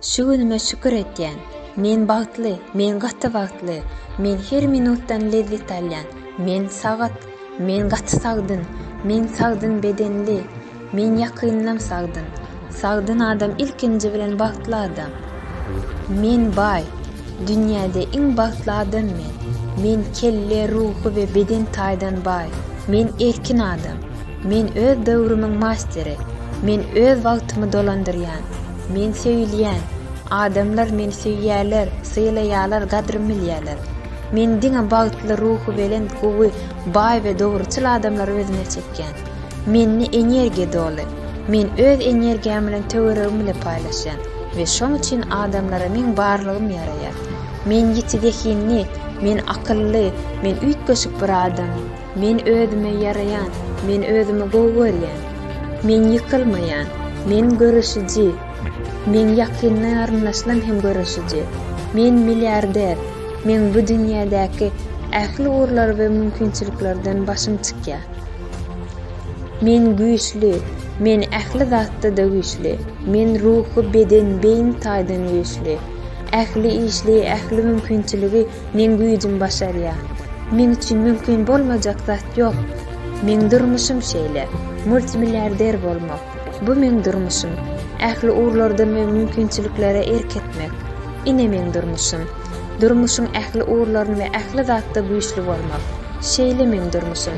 Şu günüme şükür etýän. Men bagtly, men gaty bagtly. Men her minutdan lezzet alýan. Men sagat, men gaty sagdyn. Men sagdyn bedenli. Men ýakynynam sagdyn. Sagdyn adam ilkinji bilen bagtly adam. Men baý. Dünýäde iň bagtly adam men. Men kelle, ruhy we beden taýdan baý. Men erkin adam. Men öz döwrümiň masteri. Men öz wagtymy dolandyrýan. Men söýülýän. Adamlar meni söýýärler, sylaýarlar, gadrym bilýärler. Men diňe bagtly, ruhubelent, gowy, baý we dogruçyl adamlary özüme çekýän. Mende energiýa doly. Men öz energiýam bilen töweregim bilen paýlaşýan we şoň üçin adamlara meň barlygym ýaraýar. Men ýiti zehinli, men akylly, men üýtgeşik bir adam. Men özüme ýaraýan, men özümi gowy görýän. Men ýykylmaýan, men göreşiji. Men ýakynda garyndaşdan hem göreşiji. Men milliarder, meň bu dünýädäki ähli ugurlar we mümkinçiliklerden başym çykýar. Men güýçli, men ähli zatda-da güýçli. Men ruhy, beden, beýin taýdan güýçli. Ähli işli, ähli mümkinçiligi Meň güýjüm başarýa. Meň üçin mümkin bolmajak zat ýok. Meň durmuşym şeýle. Multimilliarder bolmak. Bu meň durmuşym. Ähli ugurlardan we mümkinçiliklere erk etmek. Ine meň durmuşym. Durmuşyň ähli ugurlaryn we ähli zatda güýçli bolmak. Şeýle meň durmuşym.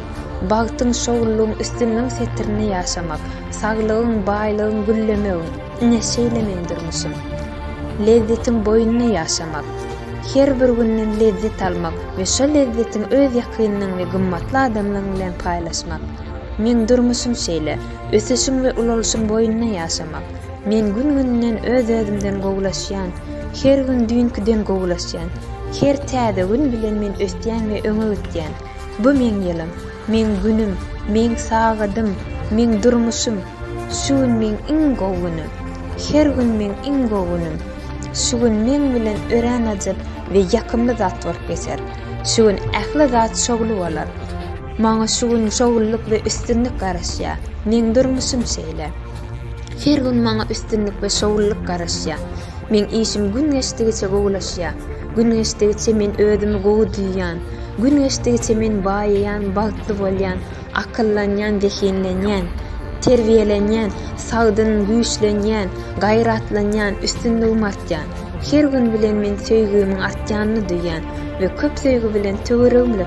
Bagtyň, şowlulygyň üstünligiň setirini ýaşamak. Saglygyň, baýlygyň, güllemegiň. Ine şeýle meň durmuşym. Lezzetiň boýunda ýaşamak. Her bir günden lezzet almak we şol lezzetiň öz ýakynyň we gymmatly adamlaň bilen paýlaşmak. Meň durmuşym şeýle, ösüşiň we ulalyşyň boýunda ýaşamak. Men gün-günden öz-özümden gowulaşýan, her gün düýnkiden gowulaşýan. Her täze gün bilen men ösýän we öňe gitýän. Bu meň ýylym, meň günüm, meň sagadym, meň durmuşym. Şu gün meň iň gowy günüm. Her gün meň iň gowy günüm. Şu gün meň bilen örän ajyp we ýakymly zat bolup geçer. Şu gün ähli zat şowly bolar. Maňa şu gün şowlulyk we üstünlik garaşýar. Meň durmuşym şeýle. Her gün maňa üstünlik we şowlulyk garaşýar. Meň işim gün geçdigiçe gowulaşýar. Gün geçdigiçe men özümi gowy duýýan. Gün geçdigiçe men baýaýan, bagtly bolýan. Akyllanýan, zehinlenýän, terbiýelenýän, sagdyn, güýçlenýän, gaýratlanýan, üstünligim artýan. Her gün bilen men söýgimiň artýanyny duýýan we köp söýgi bilen töweregimde.